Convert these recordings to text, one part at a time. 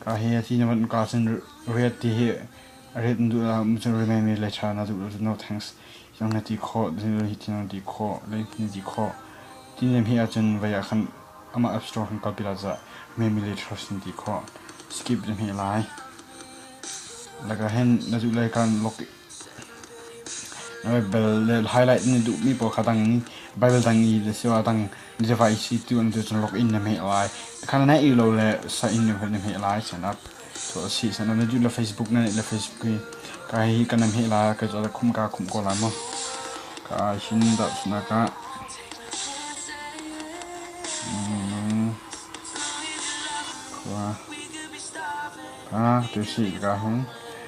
Ka hi a ti na van ka sin ret ti hi a ret na duh ah macam remain nih le ṭha na duh lo no thanks hiang na ti khawh hi ti na ti khawh le na ti khawh ti nem hi ahcun vai ah khan amah app store khan kalpi lai cah maybe later na ti khawh skip dem hi lai laka hen na duh lai kan log Baibal highlight na duhmi pawl kha dang Baibal dang i asiloah dang na device i tu an tu cun log in na hmeh lai. Kha na naih rih lo le sign na hmeh lai sinah tuah a si. Sinah na duh le Facebook na neih le Facebook i ka hi ka na hmeh lai ka cu khum ka khumh ko lai maw? Ka hin tahchunak ah khua ka tu si ka hung.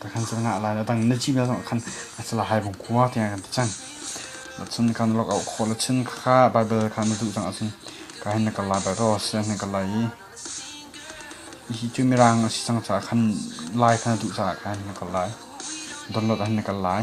Takhan cun ngah lai. Adang na cihmia zong khan a salahai bung kua tiang kan ti cang. Cun kan lok auh khawh le chin kha Bible kha na duh cang ahcun ka hin na kal lai, Bible sian hin kal lai i hi cu mirang a si cang caah khan lai kha na duh caah ka hin na kal lai. Download ah hin na kal lai.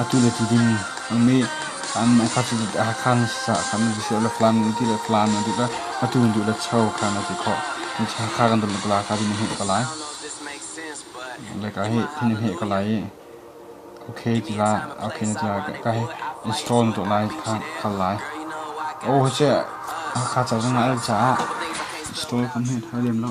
Atu le tutin nih an kha cu Hakha sah khan a si le Flan ti le Flan a duh le atu an duh le Cho khan a ti khawh. Hakha kan dam le pala ka din he ka lai. Le ka hi thin he ka lai i okay ti la okay ti la ka hi install to lai kha kha lai. Oh je Hakha cha zang ai cha install kan he thai lem lo.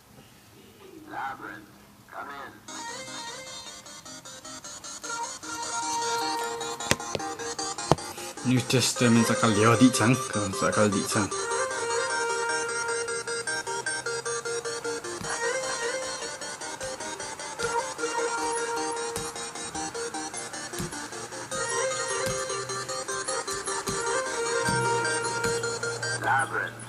New Testament a kal lio dih cang. A kal dih cang. Labyrinth